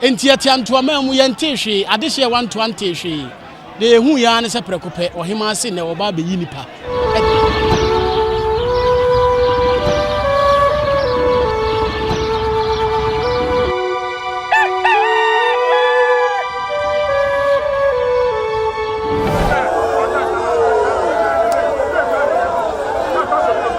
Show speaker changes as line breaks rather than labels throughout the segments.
Enti yɛtea ntoaman mu, yɛntee hwee, adehye a ɛwɔ ntoa ntee hwee. Deɛ yɛhuiɛ ara ne sɛ prɛko pɛ, ɔhemaa se nnɛ wɔba abɛyi nnipa adi.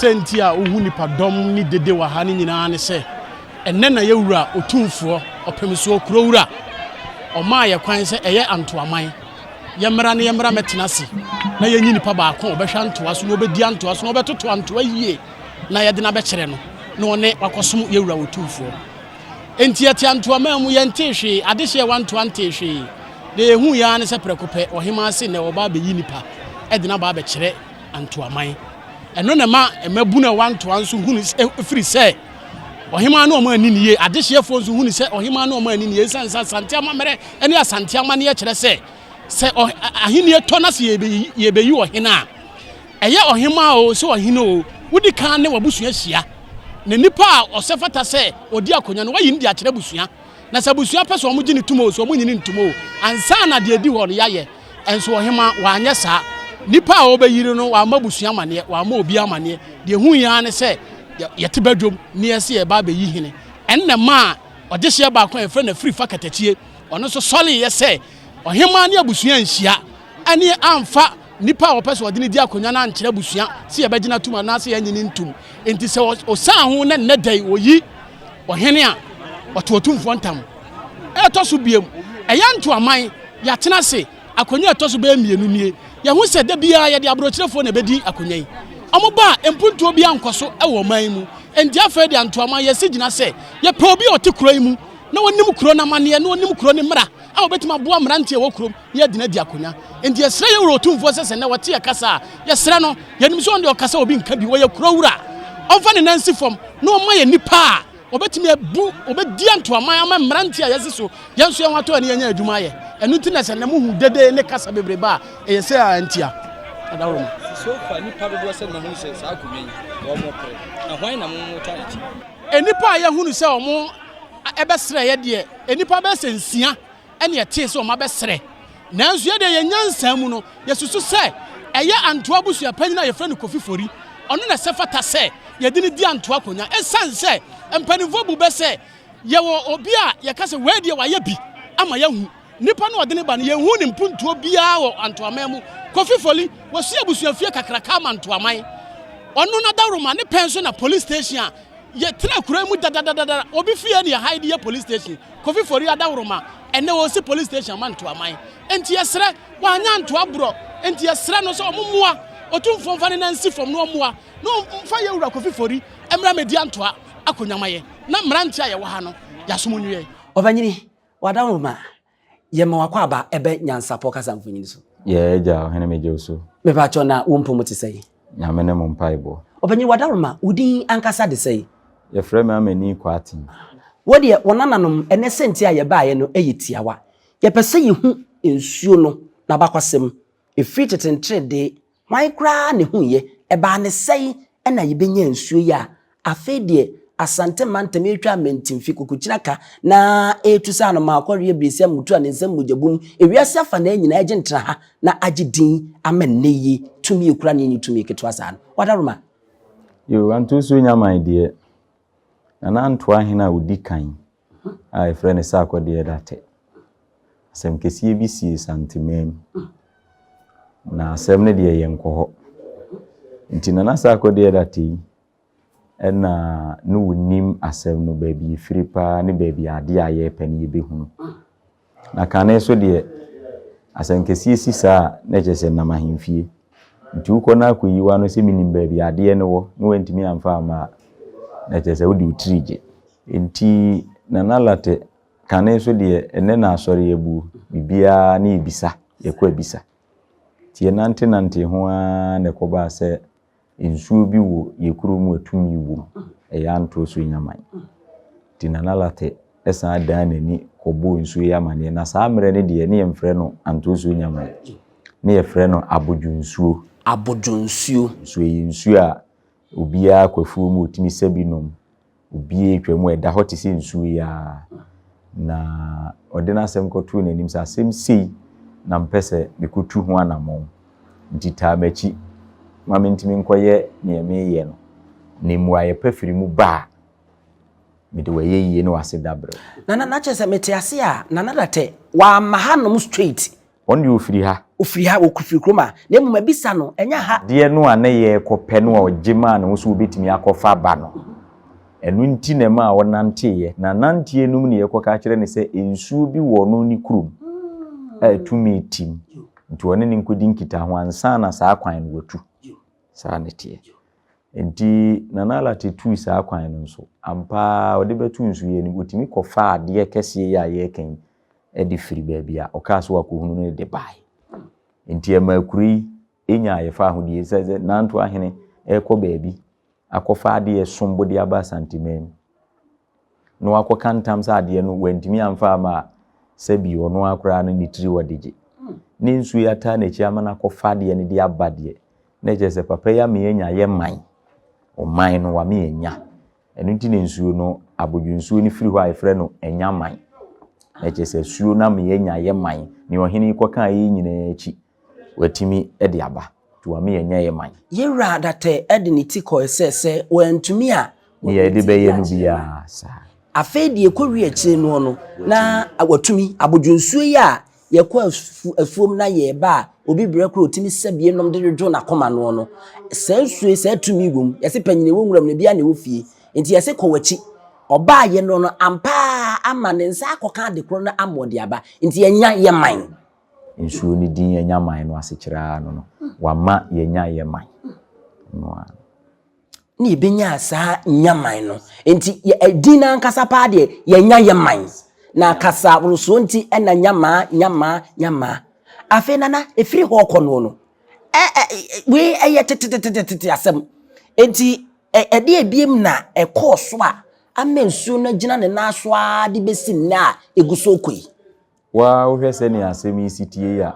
Sɛ nti a wohu nnipadɔm ne dede wɔ ha no nyinaa ne sɛ, Ɛnnɛ na yɛ Wura Otumfoɔ, Ɔpɛmsoɔ Kuro Wura, ɔmaa yɛ kwan sɛ ɛyɛ Antoaman, yɛ mmra na yɛ mmra mɛtena ase na yɛ nyi nipa baako a ɔbɛhwɛ Antoa so na ɔbɛdi Antoa so na ɔbɛtoto Antoa yie na yɛde no abɛkyerɛ no na ɔne wakɔsom yɛ Wura Otumfoɔ. Enti yɛte Antoaman mu, yɛntee hwee, adehyeɛ wɔ Antoa ntee hwee, deɛ yɛhuuiɛ ara ne sɛ prɛko pɛ Ɔhemaa se nnɛ ɔreba abɛyi nipa de no aba abɛkyerɛ Antoaman. Ɛno na ɛma mmabunu a ɛwɔ Antoa nso hunu sɛ, ɛfiri sɛ, Ɔhemaa ne wɔn anni no yie. Adehyeɛfoɔ nso hunu sɛ ɔhemaa ne wɔn anni no yie ɛsiane sɛ Asante amammerɛ ne Asante amanneɛ kyerɛ sɛ sɛ ahennie tɔ na sɛ yɛbɛyi ɔhene a, ɛyɛ ɔhemaa o sɛ ɔhene o, wodi kan ne w'abusua hyia. Na nipa a ɔsɛ fata sɛ ɔdi akonnwa no, wayi no de akyerɛ abusua. Na sɛ abusua pɛ sɛ wɔgye no tom oo, sɛ wɔnnye no ntom oo, ansa na deɛ ɛdi hɔ no yɛayɛ. Nso Ɔhemmaa, wanyɛ saa. Nnipa a wɔbɛyiri no, wammɔ abusua amaneɛ, wammɔ obiara amaneɛ. Deɛ ɛhu yɛn ara ne sɛ, yɛ, yɛte badwam na yɛse yɛreba abɛyi hene. Ɛno na ɛmaa ɔdehyeɛ baako a yɛfrɛ no Afirifa Katakyie, ɔno nso sɔreeɛ sɛ, Ɔhemmaa ne abusua anhyia, ɛne amfa, Nipa a ɔpɛ sɛ ɔde no di akonwa no ankyerɛ abusua sɛ yɛbɛgyina tom anaasɛ yɛnnye no ntom. Enti sɛ ɔsan ho na nnɛ da yi oyi ɔhene a, ɔte ɔtumfoɔ ntam. Ɛtɔ so biom, ɛyɛ ntoaman, yɛatena ase akonwa a ɛtɔ so bɛyɛ mmienu nie. Yɛahu sɛ da biara yɛde aborɔkyerɛfoɔ na ɛbɛdi akonwa yi. Wɔba a, mpuntuo biara nkɔ so wɔ ɔman yi mu. Enti afei deɛ ntoaman, yɛasi gyina sɛ yɛpɛ obi a ɔte kuro yi mu na ɔnim kuro no amanneɛ na ɔnim kuro no mmara a ɔbɛtumi aboa mmeranteɛ a ɛwɔ kurom. yɛ dena di akonya nti yɛsrɛ yɛ wura otumfoɔ sɛ sɛ nɛ wɔte yɛ kasa a yɛsrɛ no yɛnim sɛ ɔnde ɔkasa obi nka bi wɔyɛ kuro wura ɔmfa ne nan si fam na ɔma yɛ nipa a ɔbɛtumi abu ɔbɛdi antoaman ama mmerante a yɛsi so yɛn nso yɛn ho atɔ ne yɛnya adwuma ayɛ ɛno nti na sɛ nɛ mohu dede ne kasa bebrebe a ɛyɛ sɛ a ntia adaworo mu sofa nipa
dodoɔ sɛ na mohu sɛ saa akonnwa yi wɔn mo pere na hwan na mo mo ta akyi nnipa a
yɛhunu sɛ wɔn ɛbɛsrɛ yɛ deɛ nnipa bɛsɛ nsia ɛnna ɛtee sɛ wɔabɛsrɛ. Nanso yɛn deɛ, yɛn nyansa mu no, yɛsusu sɛ ɛyɛ Antoa abusuapanyin a wɔfrɛ no Kofi Fori, ɔno na ɛsɛ fata sɛ yɛde no di Antoa akonwa. Esiane sɛ mpanyimfoɔ bu bɛ sɛ yɛwɔ obi a yɛka sɛ wei deɛ wayɛ bi ama yɛahu nipa no a ɔde no ba no, yɛnhuu ne mpuntuo biara wɔ Antoaman mu. Kofi Fori, wɔsii abusuafie kakraka ama Ntoaman. Ɔno n'adaworoma ne pɛn so na Police Station a yɛtena kuro yi mu dadadadada, obi fie na yɛhae de yɛ Police Station. Kofi Fori Adaworoma ɛnɛ ɔsi police station ama Ntoaman enti yɛsrɛ wanya antoa borɔ enti yɛsrɛ no sɛ ɔmo mmoa Otumfoɔ mfa ne nan nsi fam na ɔmmoa na ɔmfa yɛ wura Kofi Fori mmra mɛdi antoa akonya ma yɛ na mmeranteɛ a yɛwɔ ha no yɛasom nnue. Ɔbanyini,
wɔ Adaworoma yɛma wakɔ aba ɛbɛ Nyansapɔ kasa mfonyin so. Yɛɛ Agya Ɔhene
megye wo so. Mepakyɛw na wo mpɔ
mu te sɛn? Nyame ne mo mpaebɔ.
Ɔpanyin Wadaroma,
wo din ankasa de sɛn? Yɛfrɛ me Amani
Kwarteng. Wo deɛ, wo
nananom ne sɛnti a yɛbaeɛ no yɛ tiawa. Yɛpɛ sɛ yɛhu nsuo no n'abakɔsɛm. Ɛfiri tete nteredee hwan koraa na ɛhuiɛ? Ɛbaa ne sɛn na yɛbɛnyaa nsuo yi a Afei deɛ Asante mantam retwa amantinfi, kokokyina ka na ɛretu sɛ anomaa kɔre abiresi amutu a ne nsam mogya bum. Ewiase afanaa nyinaa agye ntena ha na agye din ama nnɛ yi tumi a ɛkura no nni tumi ketewa saa no. Wadaroma! Yoo,
Anto Osuo Nyamai deɛ, Nana Ntoa hene a ɔdi kan a wɔfrɛ no Sarkodie Datɛ, asɛm kɛseɛ bi sii Santemaa mu. Na asɛm no deɛ yɛnkɔ hɔ. Nti Nana Sarkodie Datɛ yi, Ɛna ne wonim asɛm no baabi ɛfiri paa ne baabi a adeɛ a yɛrepɛ no yɛbɛhunu. Na kane so deɛ asɛnkɛseɛ si saa a na ɛkyerɛ sɛ nam ahemfie. Nti wokɔ na akɔyi w'ano sɛ menim baabi a adeɛ no wɔ na wantumi amfa amma a na ɛkyerɛ sɛ wode wo tiri gye. Nti Nana Lartɛ kane so deɛ ɛnnɛ na asɔre abuo, biribiara ne yɛbisa, yɛkɔ abisa. Nti yɛnantenantee ho ara na ɛkɔbaa sɛ nsuo bi wɔ yɛn kuro mu a tumi wɔ mu, ɛyɛ antorɔ so nyaman. Nti Nana Larteh san dan n'ani kɔbɔɔ nsuo yi amaneɛ. Na saa mmerɛ no deɛ na yɛmfrɛ no antorɔ so nyaman, na yɛfrɛ no abodwonsuo. Abodwonsuo. Nso ɛyɛ nsuo a obiara kɔ afuo mu ɔtumi sa bi nom. obiara twa mu a, ɛda hɔ te sɛ nsuo yi ara. Na ɔde n'asɛm kɔtoo n'anim sɛ, Asɛm sei na mepɛ sɛ mekɔtu ho anammɔn, nti taa m'akyi ma mentumi nkɔyɛ deɛ mereyɛ no, na mmuaeɛ pa firi mu ba a, mede wo ayɛyie ne w'aseda berɛ wo. Nana, na kyerɛ sɛ mete
ase a, Nana Datte, wamma hanom straight. Wɔn deɛ ɔfiri ha.
Ɔfiri ha, ɔfiri kurom a.
Na mmom abisa no, ɛnyɛ ha. Adeɛ no a na yɛrekɔpɛ
no a ɔgye maa ne ho sɛ ɔbɛtumi akɔfa aba no. Ɛno nti na ɛmaa ɔnanteeɛ. N'ananteɛ no mu na yɛkɔka akyerɛ no sɛ nsuo bi wɔ ɔno ne kurom a ɛtumi tim. Nti ɔne no nkɔdi nkitaho ansa na saa kwan no watu. Saa na ɛteɛ. Nti Nana Lartey tuu saa kwan no nso. Ampa ara ɔde bɛto nsuiɛ no mu. Ɔtumi kɔfaa adeɛ kɛseɛ yi a yɛreka yi de firi baabi a ɔkaa sɛ wakɔhunu no de baeɛ. Enti ɛmaa kuro yi nyaa yɛfa ahodie sɛ sɛ Nanto ahene rekɔ baabi akɔfa adeɛ som bo de aba Asanteman mu na wakɔka ntam sɛ adeɛ no wantumi amfa ama a, sɛ bi ɔno ara koraa no ne tiri wɔ de gye. Ne nsuo yi ataa n'akyi ama no akɔfa adeɛ no de aba deɛ, na ɛkyerɛ sɛ papa yi ama yɛanya yɛ man, ɔman no wama yɛanya. Ɛno nti na nsuo no, abodwonsuo no firi hɔ a yɛfrɛ no Anyaman. Na kyerɛ sɛ asuo no ama yɛanya Yeman. Nea ɔhene yi kɔkaa yei nyinaa akyi, watumi de aba, nti wama yɛanya Yeman. Yewura Adatai
de ne ti kɔe sɛ sɛ wantumi a, Nea wɔde ne yɛde ti bɛyɛ no akyerɛ no.
biara saa. Afei deɛ ɛkɔwie
akyire noɔ no, na watumi. Abodwonsuo yi a Yɛkɔ afuom na yɛreba a, obi brɛ koraa ɔtumi sa bi nom de dwodwo n'akoma noɔ no. Saa nsuo yi, saa tumi wɔ mu. Yɛse panyini wɔ nwura mu na biara na ɛwɔ fie. Nti yɛse kɔ w'akyi. Ɔbaa yɛ no no, ampa ara ama ne nsa akɔka ade korɔ no ama ɔde aba. Nti yɛnya yɛ man. Nsuo no
din yɛnya man no asekyerɛ ara no no. Wama yɛnya yɛ man. Ɛno ara no.
na yɛbɛnyaa saa nyaman no nti din no ankasa paa deɛ yɛnya yɛ man na kasa worosoɔ nti ɛna nyamaa nyamaa nyamaa afei nana ɛfiri hɔ kɔ noɔ no wei ɛyɛ tetetetetete asɛm nti ɛdeɛ ebiem na ɛkɔɔ so a ama nsuo no agyina ne nan so ara de bɛsi nnɛ a ɛgu so kɔ yi waa wohwɛ
sɛnea asɛm yi si tie yi a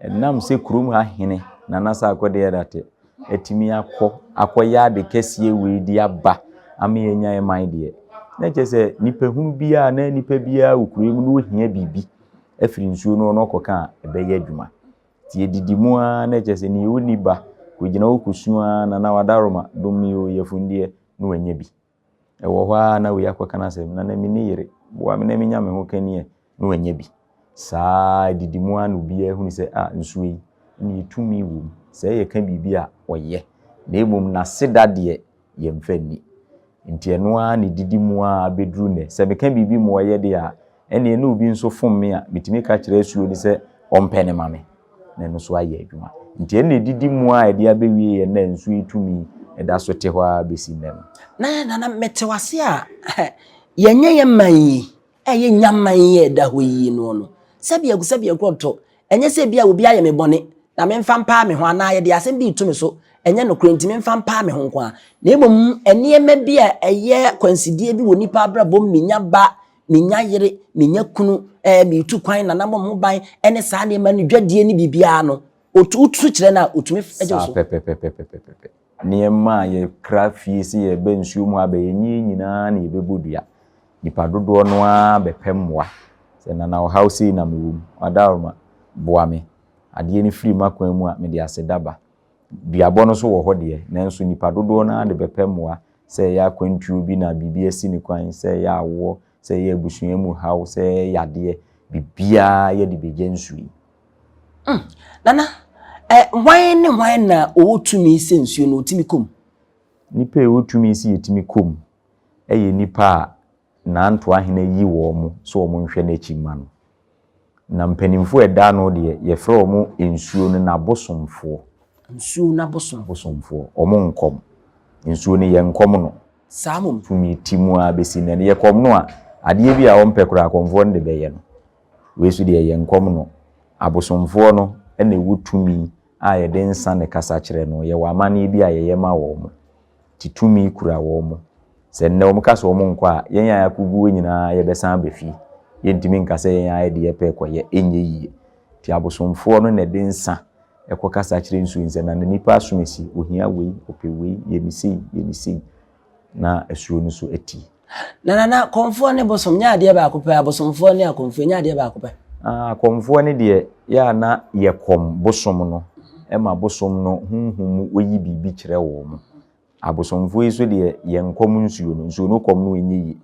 Ɛnam sɛ kurom ha hene, Nana Sarkodie Adate, atumi akɔ akɔyɛ ade kɛseɛ wei de aba ama yɛanya yɛ man deɛ, na kyerɛ sɛ nipahunu biara na nipa biara wɔ kuro yi mu na ɔhia biribi afiri nsuo no hɔ na ɔkɔka a, ɛbɛyɛ adwuma. Nti yɛdidi mu ara na kyerɛ sɛ nea ɔnni ba, kɔgyina hɔ kɔsu ara na na wadaroma, dom me oo, yafunu deɛ, na wanya bi. Ɛwɔ hɔ ara na wei akɔka n'asɛm, na na me ne yere, boa me na menya me ho ka nie, na wannya bi. Saa ara, adidi mu ara na obiara hunu sɛ, ah, nsuo yi, ɛnneɛ tumi wɔ mu, sɛ yɛka biribi a, ɔyɛ, na mmom n'aseda deɛ, yɛmfa nni. Enti ɛno ara na ɛdidi mu ara bɛduru nnɛ. Sɛ meka biribi ma ɔyɛ deɛ a, ɛnneɛ na obi nso fom me a, metumi ka kyerɛ asuo no sɛ ɔmpɛ no ma me, na ɛno nso ayɛ adwuma. Nti ɛnna ɛdidi mu ara a ɛde abɛwie yɛ na nsuo yi tumi da so te hɔ ara bɛsi nnɛ no. Na Nana, mete
wo ase a yɛnyɛ yɛn man yi a ɛyɛ nya man yi a ɛda hɔ yi noɔ no sɛbiako sɛbiako ɔtɔ. Ɛnyɛ sɛ ebia obi ayɛ me bɔne na memfa mpaa me ho anaa yɛde asɛm bi reto me so, ɛnyɛ nokorɛ nti memfa mpaa me ho nko ara, na mmom nneɛma bi a ɛyɛ akwansideɛ bi wɔ nnipa abrabɔ mu menya ba menya yere, menya kunu, ɛɛ metu kwan, nana bɔ mo ban, ɛne saa nneɛma no dwadie ne biribiara no, wotu so kyerɛ no a, otumi gye so. Saa pɛpɛpɛpɛpɛpɛ.
Nneɛma a yɛkra fie sɛ yɛreba nsuo mu aba, ɛnyɛ yɛn nyinaa na yɛbɛbɔ dua. Nnipa dodoɔ no ara bɛpɛ mmoa. Sɛ nana ɔhaw sei na mewɔ mu, ɔadaworoma, boa me. Adeɛ no firi m'akwan mu a, mede aseda ba. Duabɔ no nso wɔ hɔ deɛ, nanso nnipa dodoɔ no ara de bɛpɛ mmoa, sɛ ɛyɛ akwantuo bi na biribi asi no kwan, sɛ ɛyɛ awoɔ, sɛ ɛyɛ abusua mu haw, sɛ ɛyɛ yadeɛ, biribiara yɛde bɛgya nsuo yi. Hmm,
Nana, ɛ, hwan ne hwan na ɔwɔ tumi sɛ nsuo no ɔtumi kɔ mu? Nnipa a
ɛwɔ tumi sɛ yɛtumi kɔ mu yɛ nnipa a n'antoa hene yi wɔn mo sɛ wɔn nhwɛ n'akyi mma no. Na mpanimfoɔ a ɛda ano deɛ, yɛfrɛ wɔn nsuo no n'abosomfoɔ. Nsuo no
abosom. Abosomfoɔ. Wɔn
nkɔm. Nsuo no, yɛnkɔm no. Saa mmom. Tumi
ti mu ara
bɛsi nnɛ no. Yɛkɔm no a, adeɛ bi a wɔmpɛ koraa, akɔmfoɔ no de bɛyɛ no. Wei nso deɛ, yɛnkɔm no. Abosomfoɔ no na ɛwɔ tumi a yɛde nsa ne kasa kyerɛ no. Yɛwɔ amanneɛ bi a yɛyɛ ma wɔn. te tumi kura wɔn. Sɛ nnɛ wɔka sɛ wɔnkɔ a, yɛn a yɛakogu hɔ nyinaa yɛbɛsan aba fie. Yɛntumi nka sɛ yɛn ara yɛde yɛpɛ rekɔyɛ, ɛnyɛ yiye. Enti abosomfoɔ no na ɛde nsã kɔkasa kyerɛ nsu yi sɛ, Na nnipa asom asi, ohia wei, ɔpɛ wei, yɛ no sei, yɛ no sei, na asuo no nso atie. Na nana
kɔmfoɔ ne bosom nyɛ adeɛ baako pɛ abosomfoɔ ne akɔmfoɔ nyɛ adeɛ baako pɛ. Ah akɔmfoɔ no
deɛ yɛ a na yɛ kɔm bosom no ɛma bosom no honhom mu ɔyi biribi kyerɛ wɔn mo abosomfoɔ yi so deɛ yɛ nkɔm nsuo no nsuo no kɔm no ɛnyɛ yie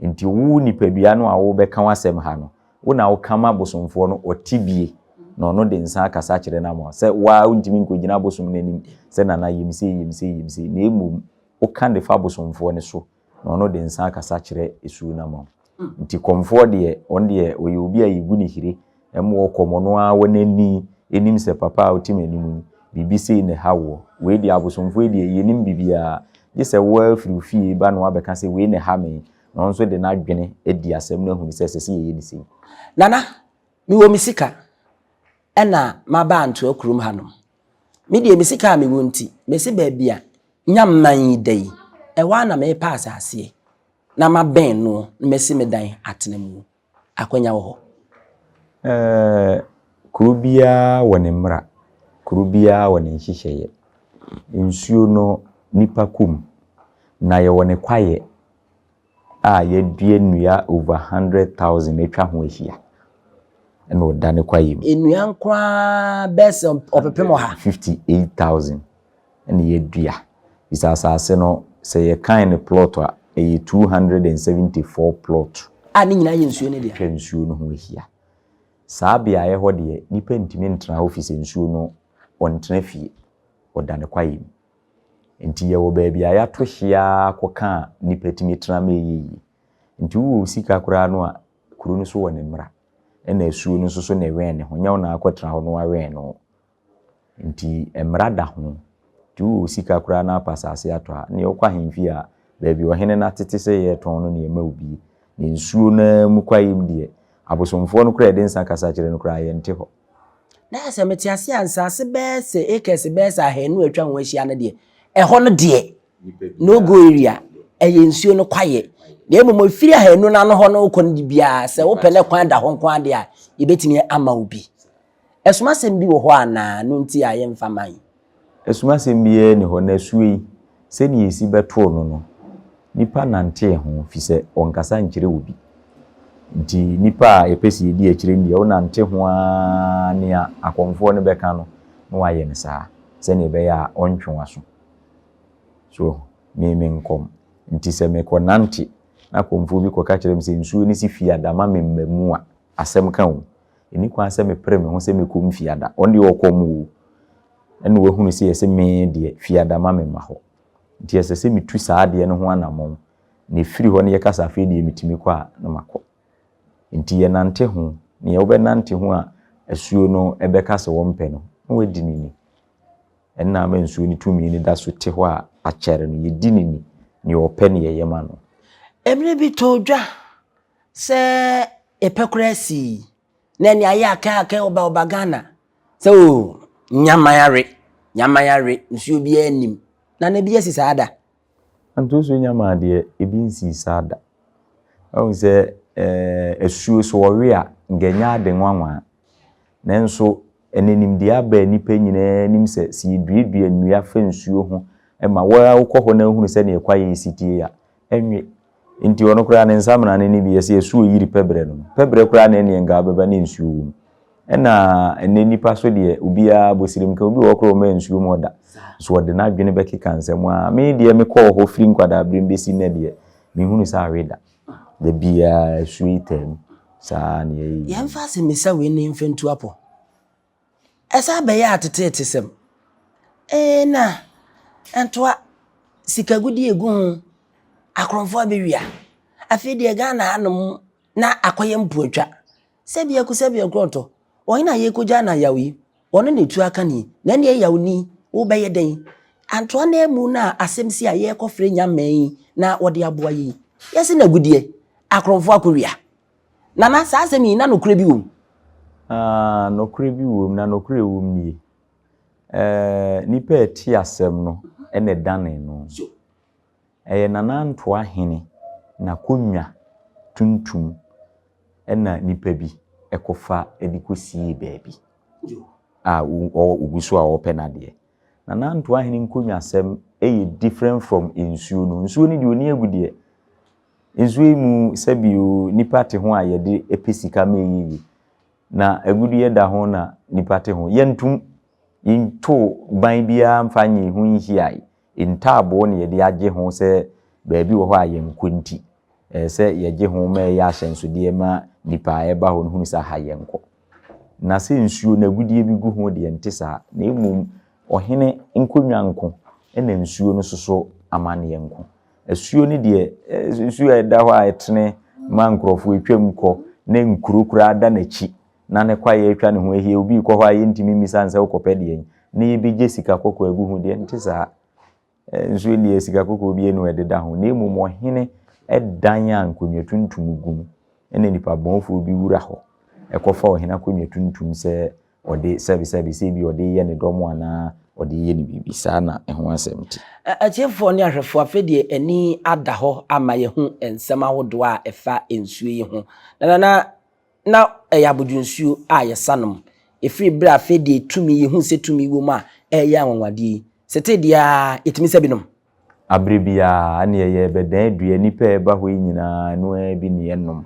nti wo nipadua no a wo bɛka wo asɛm ha no wo na wo ka ma bosomfoɔ no ɔte bie na ɔno de nsa akasa kyerɛ no ama sɛ wo ara wo ntumi nkɔgyina bosom no anim sɛ nana yɛ me sei yɛ me sei yɛ me sei na mmom woka de fa abosomfoɔ no so, na ɔno de nsa akasa kyerɛ esuo no ama wo. Nti kɔmfoɔ deɛ, ɔno deɛ ɔyɛ obi a yɛgu no hire, ɛmmoa ɔkɔm, ɔno ara wɔ n'ani nim sɛ papa a ɔte m'anim yi, biribi sei na ɛha woɔ. Wei deɛ abosomfoɔ yi deɛ, yɛnnim biribiara, gye sɛ wo ara firi wo fie ba na woabɛka sɛ wei na ɛha me, na ɔno nso de n'adwene adi asɛm no ahunu sɛ ɛsɛ sɛ yɛyɛ no sei. Nana,
mewɔ me sika, ɛna maba Antoa kurom hanom, Me deɛ me sika a mewɔ nti, mese baabi a Nyamman yi da yi, ɛhɔ ara na mepɛ asaseɛ na mabɛn noɔ na masi me dan atena mu. Akwanya wɔ hɔ? Ɛɛ, kuro
biara wɔ ne mmara, kuro biara wɔ ne nhyehyɛeɛ. Nsuo no, nnipa kɔ mu, na yɛwɔ ne kwaeɛ a yɛadua nnua over a hundred thousand atwa ho ahyia na ɔda ne kwaeɛ mu. Nnua nko ara
bɛyɛ sɛ ɔpepem ɔha. Fifty eight
thousand na yɛadua. Bisa asase no, sɛ yɛkan no plot a, ɛyɛ two hundred and seventy four plot. A ne nyinaa yɛ nsuo
no dea. Atwa nsuo no ho ahyia.
Saa beaeɛ hɔ deɛ, nipa ntumi ntena hɔ firi sɛ nsuo no, ɔntena fie, ɔda ne kwaeɛ mu. Nti yɛwɔ baabi a yɛato hye ara kɔka a nnipa tumi tena ma ɛyɛ yie. Nti wowɔ wo sika koraa no a, kuro no so wɔ ne mmara. Ɛna asuo no nso so ne wɛn ne ho. Nyɛ wo na akɔtena hɔ na wawɛn no wo. Nti mmara da ho. Nti wowɔ wo sika koraa na wapɛ asaase atɔ a, neɛ wokɔ ahemfie a, baabi ɔhene no atete sɛ yɛretɔn no na yɛma wo bi. Na nsuo no ara mu kwaeɛm deɛ, abosomfoɔ no koraa a yɛde nsa kasa kyerɛ no koraa yɛnte hɔ. Na sɛ
mete ase a, nsaase bɛyɛ sɛ acres bɛyɛ sɛ ahanu a atwa ho ahyia no deɛ, ɛhɔ no deɛ, no go area, ɛyɛ nsuo no kwaeɛ. Na mmom ɛfiri ahanu no ano hɔ no wokɔ no de biara, sɛ wopɛ na kwan da hɔ nko ara deɛ a, yɛbɛtumi ama wo bi. Ɛsomasɛm bi wɔ hɔ anaa? No nti a yɛmfa mma yi. Asumasɛm
biara nni hɔ, na asuo yi, sɛdeɛ yɛsi bɛtoo no no, nnipa nantee ho, firi sɛ wɔnkasa nkyerɛ obi. Nti nnipa a yɛpɛ sɛ yɛdi akyire no deɛ, wonante ho ara nea akɔmfoɔ no bɛka no, na woayɛ no saa, sɛdeɛ ɛbɛyɛ a ɔrentwe w'aso. So woahu? Me, me nkɔm nti, sɛ mekɔnante na akɔmfoɔ bi kɔka kyerɛ me sɛ nsuo no si Fiada ma me Mmamu a, asɛm ka o. Ɛnni kwan sɛ mepere me ho sɛ mɛkɔ mu Fiada. Ɔno deɛ ɔkɔm o. Ɛnna wahunu sɛ ɛsɛ me deɛ, Fiada ma memma hɔ. Nti ɛsɛ sɛ metu saa adeɛ no ho anammɔn, na ɛfiri hɔ na yɛka sɛ afei deɛ metumi kɔ a, na makɔ. Nti yɛnante ho. Nea wobɛnante ho a asuo no bɛka sɛ wɔmpɛ no, na woadi no ni. Ɛnna ama nsuo no tumi no da so te hɔ a akyɛre no, yɛdi no ni. Nea ɔpɛ na yɛyɛ ma no. Ɛberɛ bi
tɔɔ dwa, Sɛ yɛpɛ koraa sii na ɛne ayɛ akɛ akɛ ɔba ɔba Ghana sɛ o nyama yare nyama yare nsuo biara nnim na na bi asi saa da. Ntosuo
nyama deɛ ebi nsii saa da wahu sɛ eh, asuo sɛ ɔwe a nka ɛnyɛ ade nwanwa nanso ɛnɛ nimdeɛ aba nnipa nyinaa anim sɛ sɛ yɛduadua nnua fa nsuo ho ma wo ara wokɔ hɔ na wohunu sɛdeɛ kwaeɛ si tie a nwe. Nti ɔno koraa ne nsamena no ne bi yɛ sɛ yɛ so yiri pɛbrɛ no. Pɛbrɛ koraa na ɛneɛ nka abɛba ne nsuo wom. Ɛna ɛnɛ nipa so deɛ obiara bosirim ka obi wɔ koraa ɔmɛ nsuo mu ɔda. So ɔde n'adwene bɛkeka nsɛm a me deɛ me kɔɔ hɔ firi nkwadaa berem bɛsi nnɛ deɛ me hunu sɛ awe da. Da biara sweeter mu saa na yɛyɛ. Yɛmfa asɛmmisa wei
ne mfa ntu apɔ. Ɛsan bɛyɛ ateteetesɛm. Eena, ɛntoa, sikagudi a egu ho, akorɔmfo abewia. Afei deɛ Ghana hanom na akɔyɛ mpoatwa. Sɛbea ku sɛbea nkorɔntɔ, wɔn na yɛrekogyaa no ayaw yi, wɔn na etu aka no yi, na ɛnneɛ yaw ni, wobɛyɛ dɛn? Antoa no amu na asɛm si a yɛrekɔfrɛ Nyamɛn na wɔde aboa yɛn yi. Yɛse no agudeɛ, akorɔmfo akowia. Nana, saa asɛm yi, na nokorɛ bi wom? Ah,
nokorɛ bi wom, na nokorɛ ɛwom nie. Eh, nipa a ɛte asɛm no na ɛdane no. Ɛyɛ Nana Ntoa Hene n'akonnwa tuntum na nipa bi kɔfa de kɔsiee baabi a ɔgu so a ɔrepɛ n'adeɛ. Nana Ntoa Hene nkonnwasɛm yɛ different from nsuo no. Nsuo no deɛ ɔni agu deɛ, Nsu yi mu sɛ bio nipa te ho a yɛde pɛ sika ma ɛyɛ yie. Na agudeɛ da ho na nipa te ho. Yɛntom, yɛnto ban biara mfa nyɛ yɛn ho nhiae. Ntaaboo na yɛde agye ho sɛ baabi wɔ hɔ a yɛnkɔ nti, ɛsɛ sɛ yɛgye ho ma ɛyɛ ahyɛnsodeɛ ma nipa a ɛreba hɔ no hunu sɛ aha yɛnkɔ. Na sɛ nsuo no agudeɛ bi gu ho deɛ, ɛnte saa, na mmom ɔhene nkonnwa nko na nsuo no soso amanneɛ nko. Asuo no deɛ, nsuo a ɛda hɔ a ɛtene ma nkurɔfoɔ twam kɔ, na nkuro koraa da n'akyi, na ne kwaeɛ atwa ne ho ahyia, obi rekɔ hɔ a yɛntumi mmisa no sɛ wokɔpɛ deɛn, na yɛbɛgye sika kɔkɔɔ agu ho deɛ, ɛnte saa. nso nniɛ sika kɔkɔɔ bi anu ɛdeda ho, na mmom ɔhene dan a nkonnwa tuntum gu mu, ɛna nipa bɔnfoɔ bi wura hɔ kɔfa ɔhene akonnwa tuntum sɛ ɔde sɛbesɛbe, sɛ ebia ɔde reyɛ ne dɔm anaa ɔde reyɛ ne biribi, saa na ɛho asɛm te. Atiefoɔ ne
ahwɛfoɔ, afei deɛ ani ada hɔ ama yɛahu nsɛm ahodoɔ a ɛfa nsuo yi ho. Nanana na ɛyɛ abodwonsuo a yɛsa nom. Ɛfiri berɛ a afei deɛ tumi, yɛhunu sɛ tumi wɔ mu a ɛreyɛ anwanwadeɛ yi, setee deɛ ara yɛtumi sa bi nom. Aberɛ biara
ɛnneɛ yɛrebɛdan adua, nnipa a ɛba hɔ yi nyinaa ɛno ara bi na yɛnom.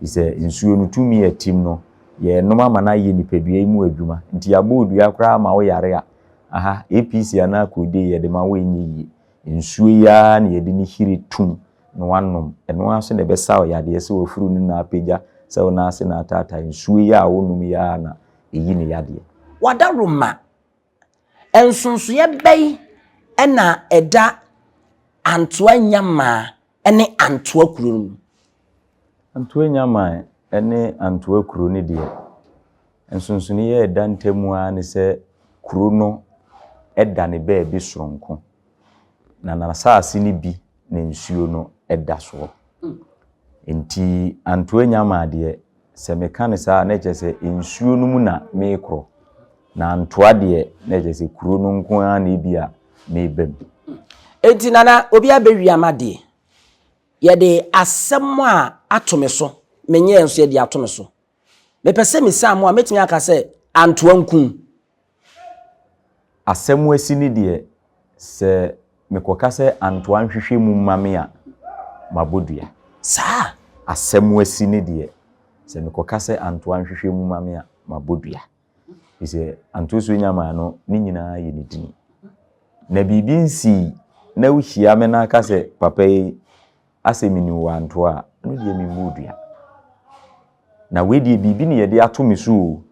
Ɛfiri sɛ nsuo no tumi a ɛtem no, yɛrenom ama no ayɛ nipadua yi mu adwuma. Nti yɛabɔ wo dua koraa ma woyare a, aha, APC anaa Codeine yɛde ma wo ɛnyɛ yie. Nsuo yi ara na yɛde no hire tum na wanom. Ɛno ara nso na ɛbɛsa wo yadeɛ sɛ wafuru no na apagya sɛ wo nan ase na ataatae. Nsuo yi a wonom yi ara na ɛyi ne yadeɛ. Wadaroma,
Nsonsoeɛ bɛn na ɛda Antoa Nyamaa ne Antoa kuro no mu? Antoa
Nyamaa ne Antoa kuro no deɛ, nsonsonoeɛ a ɛda ntam ara ne sɛ kuro no da ne baabi sononko. Na n'asaase no bi na nsuo no da soɔ. Enti Antoa nya maa deɛ, sɛ meka no saa a, na kyerɛ sɛ nsuo no mu na merekorɔ, na Antoa deɛ, na kyerɛ sɛ kuro no nko ara na ebia mereba mu. Enti
Nana, obi abɛwia m'adeɛ. Yɛde asɛm a ato me so, menyɛɛ nso yɛde ato me so. Mepɛ sɛ mesaa mo a, mɛtumi aka sɛ Antoa nkum
Asɛm asi no deɛ, sɛ mekɔka sɛ Antoa nhwehwɛ mu mma me a, mabɔ dua. Saa!
Asɛm asi
no deɛ, sɛ mekɔka sɛ Antoa nhwehwɛ mu mma me a, mabɔ dua. Ɛfiri sɛ, Antoa Suanyama no, ne nyinaa yɛ ne din. Na biribi nsii na wohyia me na aka sɛ, Papa yi, asɛ mene owantoɔ a, ɛno deɛ memmɔɔ dua. Na wei deɛ biribi na yɛde ato me so o,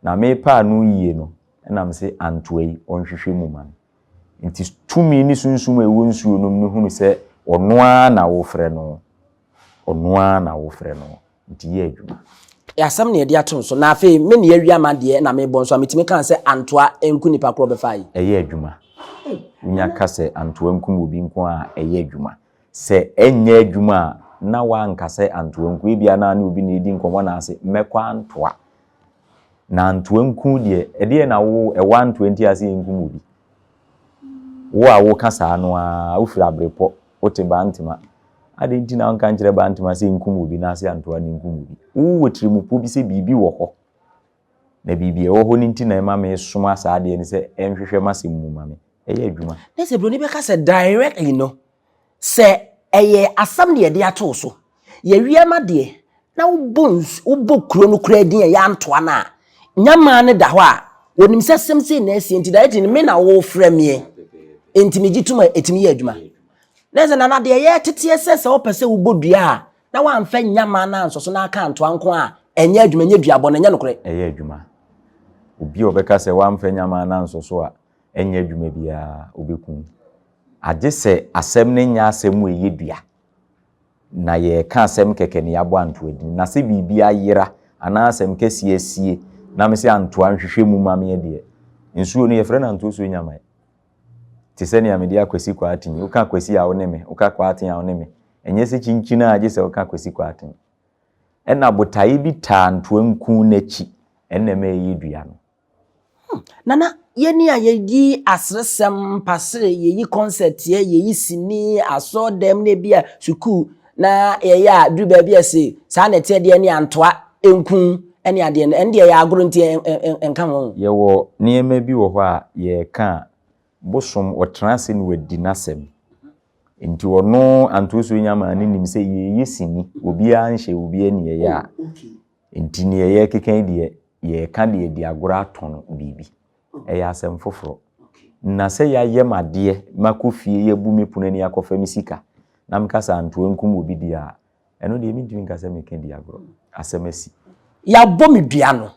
na mepɛ ano yie no na mese antoa yi, ɔnhwehwɛ mu ma me. Nti tumi ne sunsum a ɛwɔ nsuo nom no hunu sɛ ɔno ara na wofrɛ no, ɔno ara na wofrɛ no, nti yɛ adwuma. Asɛm na yɛde
ato no so. Na afei me na yɛawia ma deɛ na mebɔ nso a, metumi kaa sɛ antoa nku nipa korɔ a ɔbɛfaa yi? Ɛyɛ adwuma.
Wonya ka sɛ antoa nkum obi nko ara a, ɛyɛ adwuma. Sɛ ɛnyɛ adwuma a, na wanka sɛ Antoanku. Ebia na ne obi na edi nkɔmmɔ anaase mɛkɔ antoa. Na Antoanku deɛ, ɛdeɛn na wo ɛwɔ antoa nti a sɛ yɛnkum obi? Wo a woka saa no ara, wofiri Abrepɔ, wote Bantema. Adɛn nti na wonka nkyerɛ Bantema sɛ nkum obi anaase antoa na nkum obi? Wowɔ tirimupo bi sɛ biribi wɔ hɔ na biribi a ɛwɔ hɔ no nti na ɛma mesoma saa adeɛ no sɛ ɛnhwehwɛ m'asɛm mu ma me ɛyɛ adwuma. Na sɛ buroni bɛka sɛ
directly no, sɛ ɛyɛ asɛm na yɛde ato wo so, yɛwie no adeɛ na wobɔ nsu wobɔ kuro no koraa din a yɛantoa no a, nyamaa no da hɔ a, wɔnim sɛ asɛm sei na asie nti directly no me na wofrɛ meɛ nti megye tom a ɛtumi yɛ adwuma. Na sɛ nana deɛ yɛteteɛ sɛ sɛ wopɛ sɛ wobɔ dua a Na w'anfa annya mmaa no ansɔ so na aka antoa nko a, ɛnyɛ adwuma, ɛnyɛ duabɔ, na ɛnyɛ nokorɛ. Ɛyɛ adwuma.
Obi a ɔbɛka sɛ w'anfa annya mmaa no ansɔ so a, ɛnyɛ adwuma biara, ɔbɛku wo. Agye sɛ asɛm no nyɛ asɛm mu ɛyɛ dua, na yɛreka asɛm kɛkɛ na yɛabɔ antoadini. Na sɛ biribi ayera anaa asɛm kɛseɛ asie na mese antoa nhwehwɛ mu ma meɛ deɛ, nsuo no yɛfrɛ no antosuo nyamae. Te sɛ nea mede Akwasi Kwarteng, woka Akwasi a wo ne me, woka Kwarteng a wo ne me. Ɛnyɛ sɛ kyinkyin a gye sɛ woka Akwasi Kwarteng. Ɛna botaeɛ bi taa ntoanku no akyi, ɛna ɛma ɛyi dua no. Hmm, Nana,
yɛni a yɛyi aseresɛm, mpasere, yɛyi kɔnsɛteɛ, yɛyi sini, asɔɔdam, na ebi a sukuu na yɛyɛ a duru baabi a se saa na ɛteɛ deɛ ne antoa nku ne adeɛ no, ɛno deɛ ɛyɛ agoro nti ɛnka ho. Yɛwɔ nneɛma
bi wɔ hɔ a yɛreka a, bosom ɔtena ase na wadi n'asɛm. Nti ɔno Anto Osuo Nyamaa no nim sɛ yɛreyɛ sini, obiara nhyɛ obiara nniyɛeɛ a nti deɛ yɛrekeka yi deɛ yɛreka de adi agorɔ atɔn biribi. Ɛyɛ asɛm foforɔ. Na sɛ yɛayɛ me adeɛ, makɔ fie, yɛabu me pono ani akɔfa me sika, na meka sɛ antoa nkum obi deɛ a, ɛno deɛ mentumi nka sɛ meka di agorɔ. Asɛm asi. Yɛabɔ me
dua no.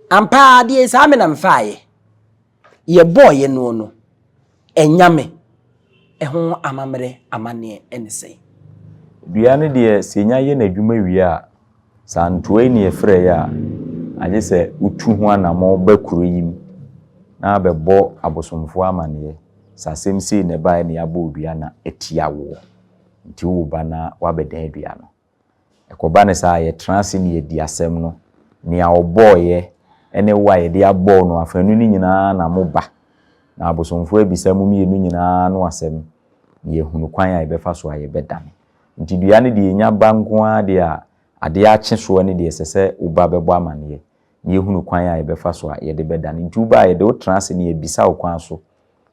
Ampa ara deɛ saa me na mefaaeɛ. Yɛbɔeɛ noɔ no. Anyame, ɛho amammerɛ amanneɛ ne sɛn? Dua no
deɛ sɛ ɛnya yɛ n'adwuma wie a, sɛ antoae ne yɛfrɛeɛ a, agye sɛ wotu ho anammɔn ba kuro yi mu na abɛbɔ abosomfoɔ amanneɛ sɛ asɛm sei na ɛbaeɛ na yɛabɔ wo dua na atia woɔ, nti wo ba na woabɛdan dua no. Ɛkɔba no saa a, yɛtra ase na yɛdi asɛm no. Nea ɔbɔeɛ ne wo a yɛde abɔ wo no afanu no nyinaa na moba, na abosomfoɔ abisa mo mmienu nyinaa ano asɛm, na yɛahunu kwan a yɛbɛfa so a yɛbɛdane. Enti dua no deɛ, ɛnya ba nko ara deɛ a, adeɛ akye soɔ no deɛ, ɛsɛ sɛ wo ba bɛbɔ amanneɛ, na yɛahunu kwan a yɛbɛfa so a yɛde bɛdane. Enti wo ba a, yɛde wo tra ase na yɛabisa wo kwan so,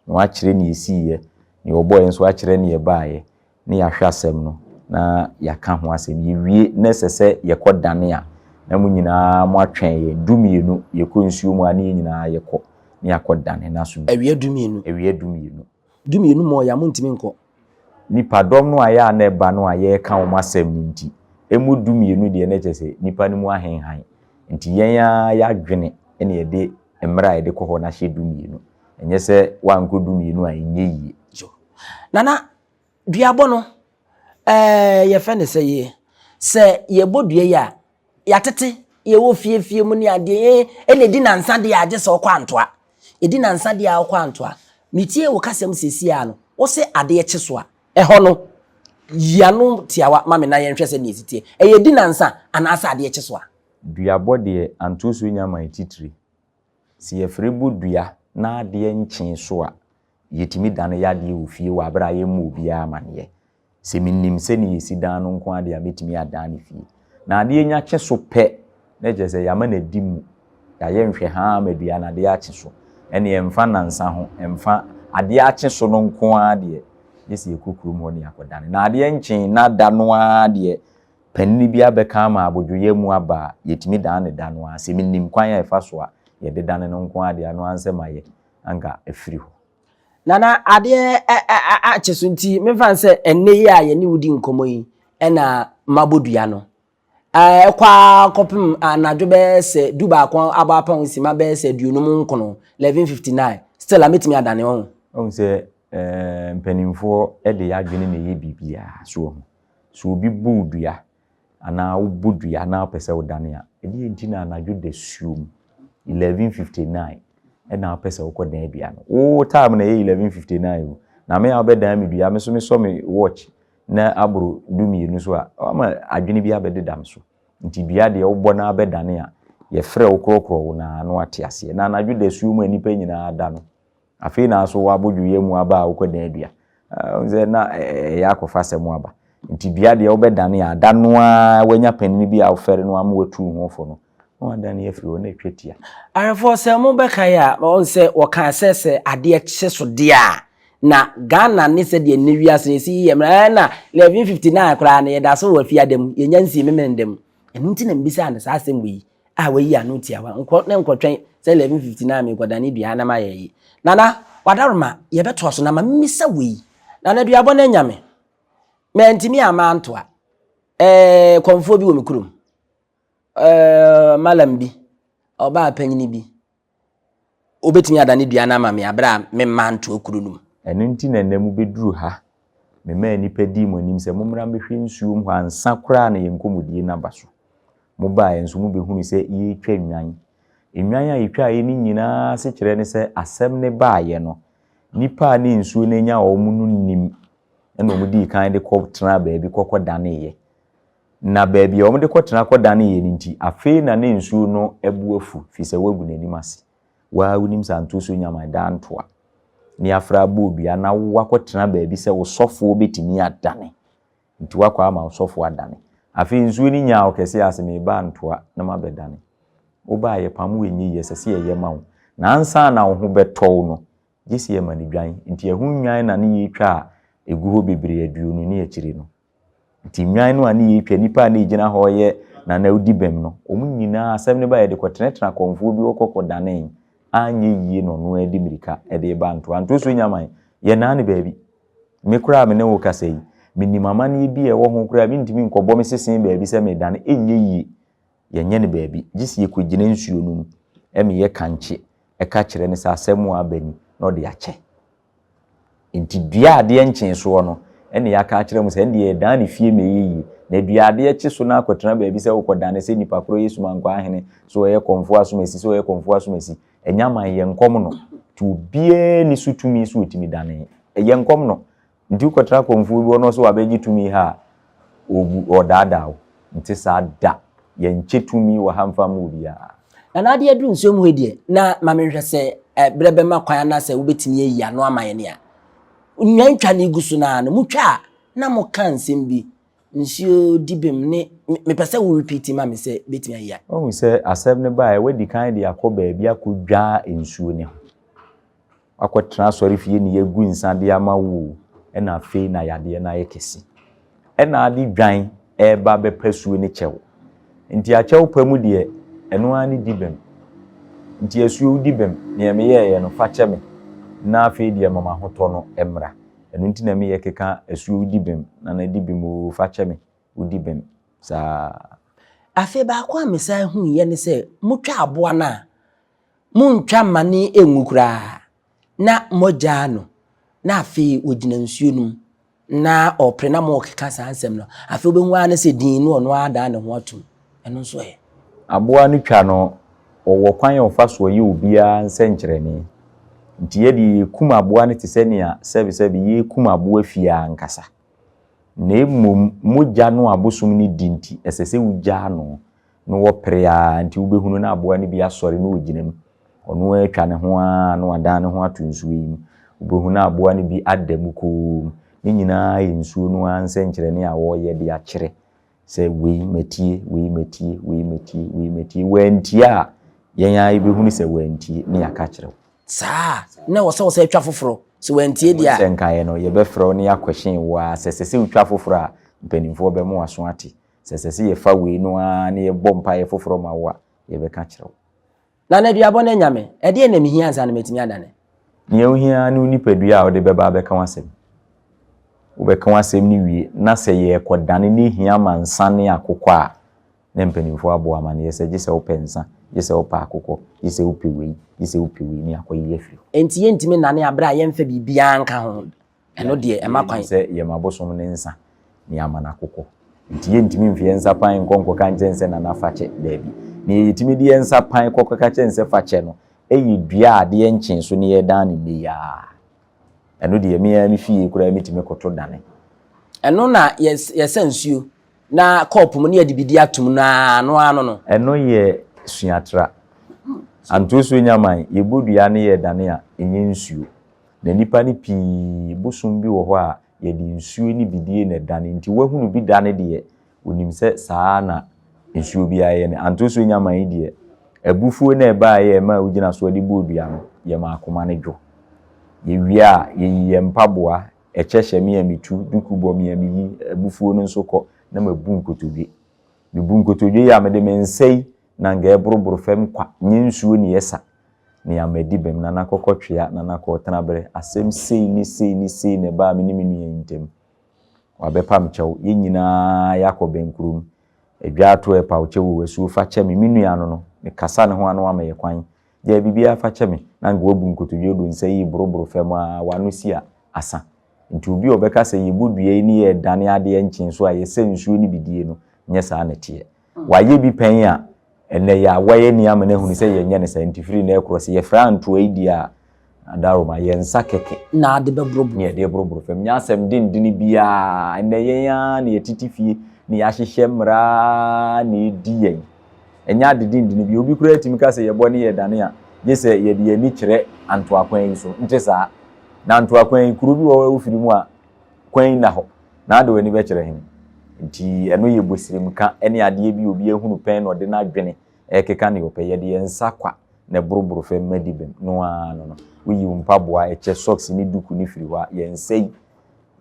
na woakyerɛ nea ɛsiiɛ, nea ɔbɔeɛ nso akyerɛ nea ɛbaeɛ, na yɛahwɛ asɛm no na yɛaka ho asɛm. Yɛwie na ɛsɛ sɛ yɛkɔdane a, na mo nyinaa moatwɛn yɛn. Dumienu, yɛkɔ nsuo mu a, na yɛn nyinaa yɛkɔ na yɛakɔdane. Nanso. Awia dumienu. Awia
dumienu. Dumienu mɔɔeɛ a, montumi nkɔ. Nnipadɔm
no a ɛyɛ a na ɛba no a yɛreka wɔn asɛm no nti, ɛmu dumienu deɛ na kyerɛ sɛ nnipa no mu ahenhan. Nti yɛn ara yɛadwene na yɛde mmerɛ a yɛde kɔ hɔ no ahyɛ dumienu. Ɛnyɛ sɛ woankɔ dumienu a ɛnyɛ yie. Nana,
Duabɔ no, ɛɛɛ yɛfrɛ no sɛ yɛ, sɛ yɛbɔ dua yi a, yɛatete, yɛwɔ fie fie mu ne adeɛ, yɛ ɛna ɛdi nansa deɛ a, gye sɛ wokɔ Antoa. Ɛdi nansa deɛ a wokɔ Antoa. Metie wo kasam seesei ara no, wo se adeɛ kye so a, ɛhɔ no, yi ano tiawa ma me na yɛnhwɛ sɛdeɛ ɛsi teɛ. Ɛyɛ ɛdi nansa anaasɛ adeɛ kye so a? Duabɔ deɛ,
antosuo nya man titire. Sɛ yɛfrɛ bɔ dua na adeɛ nkyee so a, yɛtumi dane yadeɛ wɔ fie wɔ aberɛ a yɛmmɔ obiara amaneɛ. Sɛ menim sɛdeɛ yɛsi dan no nko ara deɛ a mɛtumi adane fie. Na adeɛ nya kye so pɛ na kyerɛ sɛ yɛama no adi mu, yɛayɛ nhwɛhaa ama dua no adeɛ akye so. Ɛnneɛ ɛmfa nnansa ho, ɛmfa, adeɛ akye so no nko ara deɛ, gye sɛ yɛkɔ kurom hɔ na yɛakɔdane. Na adeɛ nkyee na da no ara deɛ, Panin bi abɛka ama abodwoyɛ mu aba a, yɛtumi dan no da no ara. Sɛ menim kwan a ɛfa so a yɛde dane no nko ara deɛ, ɛno ara nsɛ mayɛ, anka afiri hɔ. Nana,
adeɛ akye so nti, memfa no sɛ ɛnnɛ yi a yɛne wo di nkɔmmɔ yi na mabɔ dua no. Ɛkɔ ara kɔpem anadwo bɛyɛ sɛ du baako abɔ apem nsima bɛyɛ sɛ aduonum nkono, 11:59, still a mɛtumi adane, wahu. Wohu sɛ
mpanimfoɔ de yɛn adwene na ɛyɛ biribiara, so wahu. So obi bu wo dua anaa wobɔ dua na wopɛ sɛ wodane a, ɛdeɛn nti na anadwo dasuom, 11:59, na wopɛ sɛ wokɔdan dua no? Wo time na ɛyɛ 11:59 o, na me a wobɛdan me dua, me nso mesɔ me watch na aboro du-mmienu so a, woama adwene bi abɛdeda me so. Nti dua deɛ wobɔ na abɛdane a, yɛfrɛ wo korɔkorɔ wo na na wate aseɛ. Na anadwo dasuom a nnipa nyinaa da no, Afei na so wɔabɔ dwuyɛ mu aba a wokɔdan adua. Wohu sɛ na ɛyɛ akɔfa asɛm aba. Nti dua deɛ wobɛdane a, da no ara woanya panin bi a wofɛre no ama watu ho fo no, na woadane afiri hɔ, na ɛtwa tia. Awerɛfoɔ, sɛ
mobɛkae a, na wɔhu sɛ wɔkaa sɛ sɛ adeɛ kye so deɛ a, na Ghana ne sɛdeɛ nnɛ wiase no ɛsi yɛ mmerɛ, ɛɛ na 1159 koraa no yɛda so wɔ afiada mu, yɛnya nsii memeneda mu. Ɛno nti na mebisaa no saa asɛm wei. a wayi ano tiawa nkɔ na nkɔtwɛn sɛ 11:59 a merekɔdane dua a na mayɛ ayi. Nana, w'adaworoma, yɛbɛtoa so na ma mimmisa wo yi, Nana duabɔ no anya me? Mantumi a mantoa. Ɛɛ, kɔmfoɔ bi wɔ me kurom. Ɛɛ, malam bi, ɔbaa panyin bi, Wobɛtumi ada ne dua no ama me berɛ a memmaa ntoɔ kuro no mu. Ɛno nti na ɛnnɛ
mobɛduru ha. Memaa nnipa dii mo anim sɛ mommra mmɛhwɛ nsuo mu hɔ ansa koraa na yɛn nkɔmmɔdie no aba so. Mobaeɛ nso mobɛhunuu sɛ yɛretwa nnwan. Nnwan a yɛtwaeɛ no nyinaa asekyerɛ ne sɛ asɛm no baeɛ no, nnipa a na nsuo no anya wɔn no nnim na wɔdii kan de kɔtenaa baabi kɔkɔdaneeɛ. Na baabi a wɔde kɔtena kɔdanee no nti, afei na ne nsuo no bo afu, firi sɛ wɔagu n'anim ase. Wo ara wonim sɛ anto so nnya man daa ntoa ne afra abɔ dua na woakɔtena baabi sɛ wo sɔfoɔ bɛtumi adane. Nti woakɔ ama wo sɔfoɔ adane. Afei nsuo no nyaa ɔkɛseɛ ara sɛ, Mereba antoa na mabɛdane. Woba a, yɛpam wo ɛnyɛ yie, ɛsɛ sɛ yɛyɛ ma wo. Na ansa na wo ho bɛtɔ wo no, gye sɛ yɛma no dwan. Nti ɛho nnwan na ne yetwaa ɛgu hɔ bebree aduonu ne akyire no. Nti nnwan no a ne yɛtwa, nnipa a ne yɛgyina hɔ reyɛ nanawdi bem no, wɔn nyinaa, asɛm no ba a, yɛde kɔtenatena kɔmfoɔ bi hɔ kɔkɔdanee, anyɛ yie na ɔno ara de mmirika de reba antoa. Ntoɔ so nya man, yɛnnaa no baabi. Me koraa a me ne wo rekasa yi, menim amanneɛ bi a ɛwɔ ho koraa a, mentumi nkɔbɔ me sese baabi sɛ meredane, ɛnyɛ yie. yɛnyɛ no baabi, gye sɛ yɛkɔgyina nsuo no mu ma yɛ kankye ka kyerɛ no sɛ asɛm a aba ni na ɔde akyɛ. Nti dua adeɛ nkyee soɔ no na yɛaka akyerɛ mo sɛ ɛndeɛ yɛdan no fie ma ɛyɛ yie. Na dua adeɛ kye so no akɔtena baabi sɛ wokɔdane sɛ nipa korɔ yɛ sumankwaa ahene, sɛ ɔyɛ kɔmfoɔ asomasi, sɛ ɔyɛ kɔmfoɔ asomasi, ɛnyɛ aman yɛ nkɔm no. Nti obiara nni so tumi sɛ ɔtumi dane, ɛyɛ nkɔm no. Nti wokɔtra kɔmfoɔ bi hɔ na ɔse wabɛgye tumi ha a, obu, ɔɔdaadaa wo. Nte saa da. Yɛnkyɛ tumi wɔ ha mfa mma obiara. Nana Ade aduru
nsuo mu hɔ yi deɛ, na ma me nhwɛ sɛ berɛ bɛma kwan anaasɛ wobɛtumi ayi ano ama yɛn nea Nnwan twa no gu so no ara no, motwa a na moka nsɛm bi, nsuo di bem ne, me, mepɛ sɛ wo repeat ma me sɛ bɛtumi ayi a. Woahu sɛ asɛm no
baeɛ, woadi kan de akɔ baabi akɔdwa nsuo no ho. Woakɔtena asɔrefie na yɛagu nsa de ama wo o, ɛna afei na yadeɛ no ayɛ kɛse. Ɛna ade dwan reba bɛpa suo ne kyɛw. Nti akyɛw pa mu deɛ, ɛno ara ne di bem. Nti asuo wo di bem, deɛ meyɛeɛ no, fa kyɛ me na afei deɛ ma m'ahotɔ no mmra. Ɛno nti na meyɛ keka asuo wo di bem, nana di bem oo, fa kyɛ me wo di bem saa. Afei
baako a mesan huiɛ ne sɛ motwa aboa no a, Monntwa mmane nngu koraa. Na moagyaa no, na afei ogyina nsuo no mu, na ɔrepere na morekeka saa nsɛm no. Afei wobɛhu ara ne sɛ dinn no ɔno ara adan ne ho atom. Ɛno nso ɛ? Aboa no twa
no, wɔwɔ kwan a wɔfa soɔ yɛ obiara nsɛnkyerɛnne. Nti yɛ deɛ yɛkum aboa no te sɛ nea sɛbesɛbe yɛrekum aboa fie ara ankasa. Na mmom mogya no a abosom no di nti, ɛsɛ sɛ wogyaa no. no wɔ pere ara nti wobɛhunu na aboa no bi asɔre na ɔgyina mu. Ɔno ara atwa ne ho ara na wadan ne ho ato nsuo yi mu. Wobɛhunu na aboa no bi ada mu komm. Ne nyinaa yɛ nsuo no ara nsɛnkyerɛnne a wɔreyɛ de akyerɛ sɛ wei matie, wei matie, wei matie, wei matie. Wantie a, yɛn ara yɛbɛhunu sɛ wantie na yɛaka akyerɛ wo. Saa
a, na ɛwɔ sɛ wɔsan twa foforɔ. Sɛ wantie deɛ a. Sɛ nkaeɛ no, yɛbɛfrɛ
wo na yɛakɔhyɛn wo ara. Sɛ ɛsɛ sɛ wotwa foforɔ a, mpanimfoɔ bɛma wo aso ate. Sɛ ɛsɛ sɛ yɛfa wei no ara na yɛbɔ mpaeɛ foforɔ ma wo a, yɛbɛka akyerɛ wo. Nana Aduabɔ
ne Nyame, ɛdeɛn na mehia ansa na matumi adane? Deɛ wohia ara
ne wo nipadua a wode bɛba abɛka w'asɛm. Wobɛka w'asɛm no wie na sɛ yɛrekɔdane na ɛhia ma nsa ne akokɔ a, na mpanimfoɔ abɔ wo amaneɛ sɛ gye sɛ wopɛ nsa, gye sɛ wopɛ akokɔ, gye sɛ wopɛ wei, gye sɛ wopɛ wei, na yɛakɔyi afiri hɔ. Enti yɛntumi nnane a
berɛ a yɛmfa biribiara nka ho. Ɛno deɛ ɛma kwan. Sɛ yɛma abosom no
nsa na yɛama no akokɔ. Nti yɛntumi mfi yɛn nsa pan nkɔ nkɔka nkyɛ no sɛ Nana fa kyɛ. Daabi. Nea yɛtumi de yɛn nsa pan kɔ kɔka kyɛ no sɛ fa kyɛ no yɛ dua a adeɛ nkyee so na yɛdan no nnɛ yi ara. Ɛno deɛ me ara me fie koraa mɛtumi koto dane. Ɛno na
yɛsa nsuo na kɔɔpo mu na yɛde bidi atom no ara ano ara no no. Ɛno yɛ
suatra. Antosuo Nyaman, yɛbɔ dua na yɛdane a, ɛnyɛ nsuo. Na nnipa no pii bosom bi wɔ hɔ a yɛde nsuo ne bidie na ɛdane nti wahunu bi dane deɛ ɔnim sɛ saa ara na nsuo biara yɛ no Antosuo Nyama yi deɛ abufuo no a ɛbaeɛ a ɛmaa ɔgyina soɔ de bɔɔ dua no yɛmaa akoma no dwo Yɛwie a yɛyi yɛn mpaboa, ɛkyɛ hyɛ me a metu, duku bɔ me a meyi, abufuo no nso kɔ na mabu nkotodwe Mebu nkotodwe yi a mede me nsa yi na anka ɛreboroboro fam kwa, nyɛ nsuo na ɛsa Nea madi bem, Nana kɔkɔ twea, Nana kɔɔ tenaberɛ, Asɛm sei ne sei ne sei na ɛbaa me ne me nua yi ntam. Wabɛpam kyɛw, yɛn nyinaa yɛakɔ bɛnkurom, Adwaa to ɛpaw kyɛw o, asuo fa kyɛ me, Me nua no no, mekasa ne ho a na wama yɛ kwan, Gyaa biribiara fa kyɛ me, na anka wabu nkotodwe do nsa yi reboroboro fam a, w'ano si a, asa. Nti obi a ɔbɛka sɛ yɛbɔ dua yi ne yɛredane adeɛ nkyen so a, yɛsɛ nsuo ne bidie no, nyɛ saa na ɛteɛ. Wayɛ bi pɛn a, ɛnnɛ yɛ a wayɛ ni ama no ahunu sɛ yɛnyɛ no saa nti firi nnɛ rekorɔ sɛ yɛfrɛ antoa yi deɛ a, Adaroma, yɛn nsa kɛkɛ na yɛde
bɛboroboro fam. Nyɛ
asɛm dendene biara, ɛnnɛ yɛn ara na yɛtete fie na yɛahyehyɛ mmara na ɛdi yɛn. Ɛnyɛ ade dendene biara. Obi koraa tumi ka sɛ yɛbɔ ne yɛdane a, gye sɛ yɛde yɛn ani kyerɛ Antoakwan yi so. Nte saa? Na Antoakwan yi, kuro bi wɔ hɔ a wofiri mu a, kwan nna hɔ, na ade w'ani bɛkyerɛ he? Nti ɛno yɛ bosirimka ne adeɛ bi a obi ahunu pɛn na ɔde n'adwene rekeka deɛ ɔpɛ. Yɛde yɛn nsa kwa na ɛboroboro fam ma di bem no ara no no. Woyi wo mpaboa, ɛkyɛ, sɔks ne duku no firi hɔ a, yɛn nsa yi,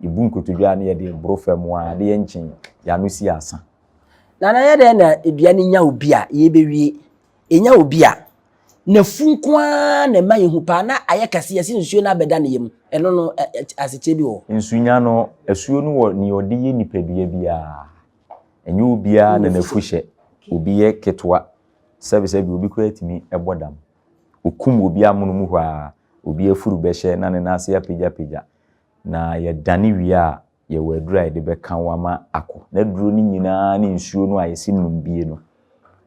yɛbu nkotodwe ara na yɛde reboro fam ara, adeɛ nkye yi, yɛn ano si asa. Nana yɛ
dɛn na aduane nya obi a, yɛbɛwie? yɛnya obi a, n'afu nko ara na ɛma yɛhu paa na ayɛ kɛse, yɛse nsuo no abɛda ne yam. Ɛno no, asekyerɛ bi wɔ hɔ? Nsunya no, asuo
no wɔ nea ɔde yɛ nipadua biara. Ɛnyɛ obiara na n'afu hyɛ. Obi yɛ ketewa, sɛbesɛbe obi koraa tumi bɔ dam. Ɔkum obi amonom hɔ ara, obi afuru bɛhyɛ na ne nan ase apagyapagya, na yɛdane wie a, Yɛwɔ aduru a yɛde bɛka wo ama akɔ. N'aduro no nyina ara ne nsuo no a yɛse nom bie no,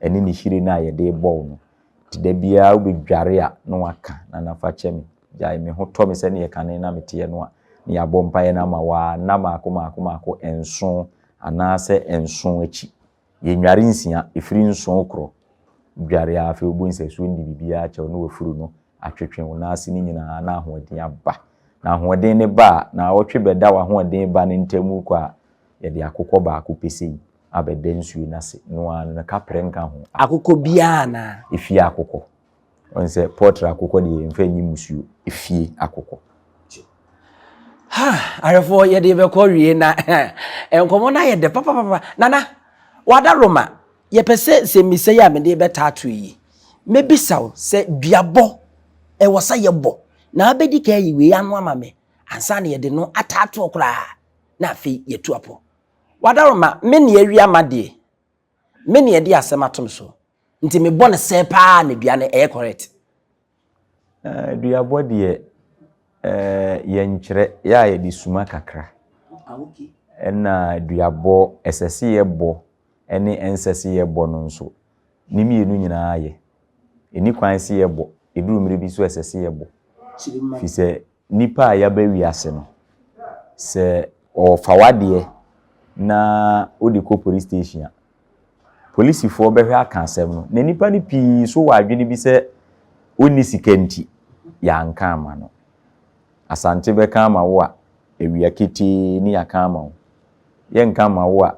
ɛne ne hyire no a yɛde rebɔ wo no. Nti da biara wobɛdware a na waka, Nana fa kyɛ me, gyae me ho tɔ me sɛdeɛ kane na meteɛ no a, na yɛabɔ mpaeɛ no ama wo ara nna mmaako mmaako mmaako nson anaasɛ nson akyi. Yɛnnware nsia, ɛfiri nson korɔ dware a afei wobɔ nsɛsuo no de biribiara akyɛ wo na wafuru no atwetwe wo nan ase no nyinaa na ahoɔden aba. Na ahoɔden no ba a, naawɔtwe bɛda w'ahoɔden ba no ntam kɔ a, yɛde akokɔ baako pɛ sei abɛda nsuo no ase, noaa no, na kaprɛ nka ho. Akokɔ biara anaa?
Efie akokɔ.
Ɔn sɛ pɔtre akokɔ deɛ yɛmfa nyi musuo. Efie akokɔ. Ha!
Ahwɛfoɔ yɛde bɛkɔ wie na nkɔmmɔ no ayɛ dɛ papapapa. Nana, wada Roma, yɛpɛ sɛ nsɛmmisa yi a mede bɛtato yi, mɛbisa wo sɛ duabɔ ɛwɔ sɛ yɛbɔ na wobɛdi kan ayi wei ano ama me ansa na yɛde no ataa toɔ koraa na afei yɛatu apɔ. Wada Roma, me ne awi ama deɛ, Me na yɛde asɛm ato me so. Nti mebɔ no sɛ paa na dua no ɛyɛ correct. Eh, duabɔ
deɛ eh, yɛnkyerɛ, yɛ a yɛde suma kakra. Ah, okay. Ɛna duabɔ ɛsɛ se yɛbɔ ɛne ɛnsɛ se yɛbɔ no nso, ne mmienu nyinaa yɛ. Ɛni kwan se yɛbɔ, ɛduru mmerɛ bi nso ɛsɛ se yɛbɔ. Firi sɛ Nnipa a yɛaba wiase no, sɛ wɔfa w'adeɛ na wode kɔ police station a, polisifoɔ bɛhwɛ aka asɛm no. Na nnipa no pii nso wɔ adwene bi sɛ wonni sika nti, yɛanka amma no. Asante bɛka ama wo a, awia ketee ne yɛaka ama wo. Yɛnka mma wo a,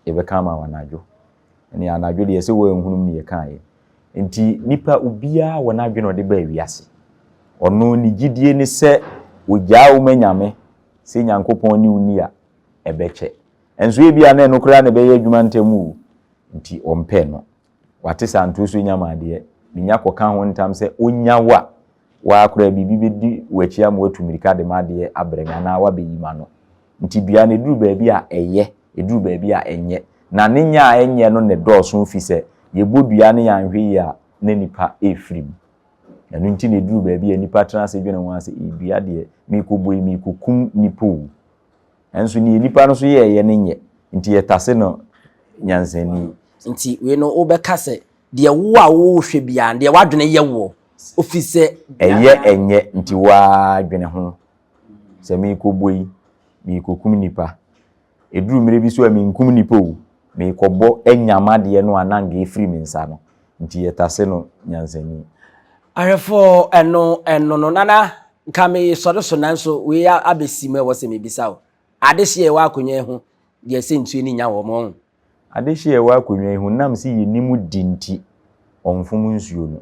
yɛbɛka ama wo anadwo. ɛne anadwo deɛ sɛ wɔanhunum ne yɛkaeɛ. Enti nipa obiara wɔ n'adwene ɔde baa wiase. Ɔno ne gyidie ne sɛ ɔgyaa wo ma Nyame, sɛ Nyankopɔn ne wo ni a, ɛbɛkyɛ. Nso ebia na ɛno koraa na ɛbɛyɛ adwuma ntɛm o, nti ɔmpɛ no. Wate saa nto so nya maadeɛ, menya kɔka ho ntam sɛ ɔnya wo a, Woaa koraa biribi bɛdi w'akyi ama woatu mmirika de m'adeɛ abrɛ me anaa woabɛyi m'ano. Enti dua no, ɛduru baabi a, ɛyɛ, ɛduru baabi a, ɛnyɛ. Na ne nyɛ a ɛnyɛ no na ɛdɔɔso ɛfiri sɛ, yɛbɔ dua no yɛanhwɛ yie a, na nnipa refiri mu. Ɛno nti na ɛduru baabi a, nnipa tena ase dwene ho ara sɛ, Ee, dua deɛ, merekɔbɔ yi, merekɔkum nnipa o. Nanso deɛ nnipa no nso yɛeɛ no nyɛ, enti yɛtase no nyansani. Enti wei
no, wobɛka sɛ Deɛ wo a wo hwɛ biara, deɛ w'adwene yɛ woɔ, ofiri sɛ. Ɛyɛ ɛnyɛ,
nti wo ara dwene ho. Sɛ merekɔbɔ yi, merekɔkum nnipa. Ɛduru mmerɛ bi so a, menkum nnipa o, merekɔbɔ anyam adeɛ no a na anka ɛfiri me nsa no, nti yɛtase no nyansani. Ahwɛfoɔ,
Ɛno, ɛno no, Nana, nka meresɔre so nanso wei abɛsi mu a ɛwɔ sɛ mebisa wo, adehyeɛ a ɛwɔ akonnwa yi ho deɛ sɛ nsuo ani nya wɔ mu, ɔho? Adehye a ɛwɔ
akonnwa yi ho nam se yennim de nti, ɔmfom nsuo no.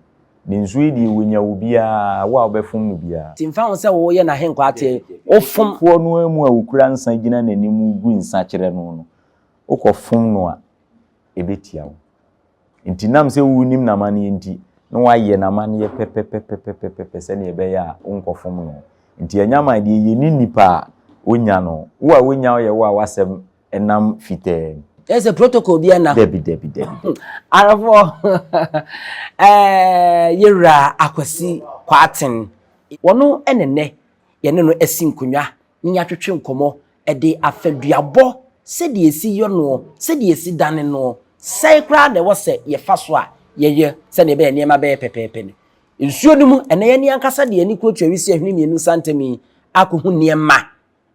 Ne nsuo yi deɛ wɔnya wo biara, wo a wobɛfom no biara. Nti mfa ho sɛ woyɛ
n'ahenkwa ateɛ yi, wofom. Foɔ no ara mu a
wokura nsa gyina n'anim gu nsa kyerɛ no no, wokɔfom no a, ɛbɛtia wo. Nti nam sɛ wonim n'amanneɛ nti, na wɔayɛ n'amanneɛ pɛpɛpɛpɛpɛpɛpɛ sɛdeɛ ɛbɛyɛ a wonkɔfom no. Nti anyaman deɛ yɛnni nnipa a wɔnya no. Wo a wonya wo yɛ wo a w'asɛm nam fitɛɛ mu. Kyerɛ sɛ protocol
biara nna hɔ. Dabi, dabi, dabi.
Awerɛfoɔ,
ɛɛ yɛn wura Akwasi Kwarteng, wɔno na nnɛ yɛne no asi nkonnwa na yɛatwetwe nkɔmmɔ de afa duabɔ, sɛdeɛ yɛsi yɔ noɔ, sɛdeɛ yɛsi dane noɔ, sɛn koraa na ɛwɔ sɛ yɛfa so a yɛyɛ sɛdeɛ ɛbɛyɛ nneɛma bɛyɛ pɛpɛɛpɛ no. Nsuo no mu, ɛnnɛ yɛne ankasa de yɛn ani kurokyerɛ Wisie Ahwene Mmienu Nsa Ntam yi akɔhu nneɛma.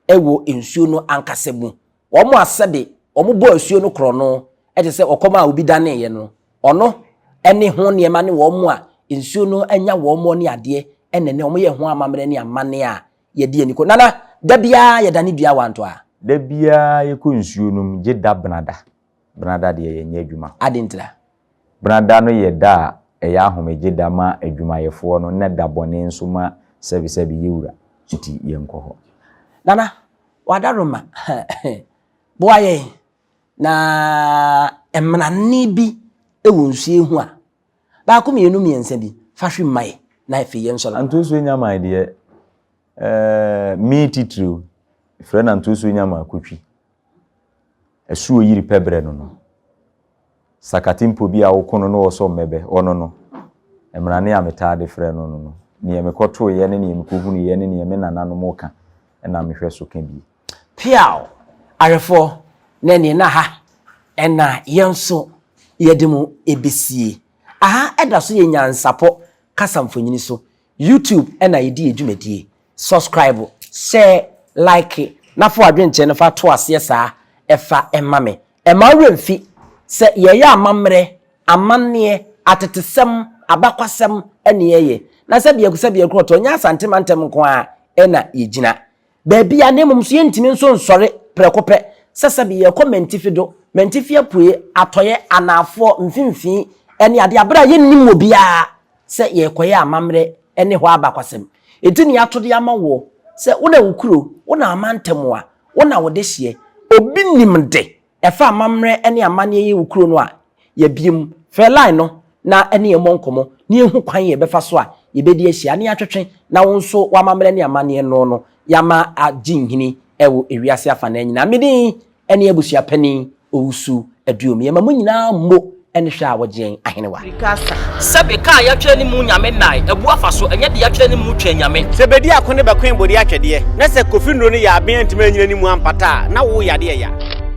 wɔ nsuo no ankasa mu. Wɔn a sɛde wɔbɔɔ asuo no korɔno te sɛ ɔkɔm a obi daneeɛ no, ɔno ne ho nneɛma ne wɔn a nsuo no anya wɔn ne adeɛ na ɛnɛ wɔyɛ ho amammerɛ ne amanneɛ a yɛdi ani kɔ. Nana, da biara yɛdane dua wanto a. Da biara
yɛkɔ nsuo no mu gye da benada. Benada deɛ yɛnyɛ adwuma. Adɛn ntira?
Bena da no
yɛ da a ɛyɛ ahomegye da ma adwumayɛfoɔ no na da bɔne nso ma sɛbesɛbe yɛwura. Nti yɛnkɔ hɔ. Nana,
w'adaroma boa yɛn na mmrane bi wɔ nsuo ho a, baako mmienu mmiɛnsa bi, fa hwe mma yɛn na afei yɛn nsɔre. Antosuo Nyama deɛ,
eh, me titiriw, yɛfrɛ no Antosuo Nyama Kotwi. Asuo yiri pɛ berɛ no no, sakate mpo bi a woko no na wɔsɔ mmɛbɛ, ɔno no, Mmrane a metaa de frɛ no no no, neɛ mekɔtoeɛ ne neɛ mekɔhunuiɛ ne neɛ me nananom reka na mehwɛ so ka bi. Piaw!
Awɛfoɔ, na ɛneɛ na ha na yɛn nso yɛde mo bɛsie. Aha da so yɛ nyansapɔ kasa mfonini so. YouTube na yɛdi yɛ dwumadie. Subscribe, share, like na fa w'adwenkyerɛ no fa to aseɛ saa ɛfa ɛma me. Ɛma wo werɛ mfi sɛ yɛyɛ amammerɛ, amanneɛ, atetesɛm, abakwasɛm ne yɛyɛ. Na sɛdeɛ sɛdeɛ korɔtɔ nyɛ Asante mantam nko ara na yɛgyina. baabi a na mmom so yɛntumi nso nsɔre prɛko pɛ sɛ sɛbe yɛrekɔ mantifi do, mantifi apueɛ, atɔeɛ, anaafoɔ, mfimfini, ne adeɛ a, berɛ a yɛnnim wɔ biara sɛ yɛrekɔyɛ amammerɛ ne hɔ abakwasɛm. Enti nea ato de ama woɔ sɛ wo na wo kuro, wo na amantam a, wo na wo dehyeɛ, obi nim de Ɛfa amammerɛ ne amanneɛ yi wo kuro no a, yɛabie mu. Frɛ line no na ne yɛn mmɔ nkɔmmɔ na yɛhu kwan yɛbɛfa so a yɛbɛdi ahyia ne atwetwe na wo nso w'amammerɛ ne amanneɛ no no yɛama agye nhini wɔ ewiase afanaa nyinaa. Me din ne Abusua Panin Owusu Aduom. Yɛma mo nyinaa mmo ne hwɛ a wɔgye yɛn ahenewa. Sɛbe
ka a yɛatwerɛ ne mu Nyame nnae abu afa so, ɛnyɛ de yɛatwerɛ ne mu Twɛn Nyame. Sɛ bedi ako ne bɛkoe
bode atwɛdeɛ, na sɛ Kofi nnuro no yɛ aben antumi anyina ne mu ampata a, na wo yade ɛya.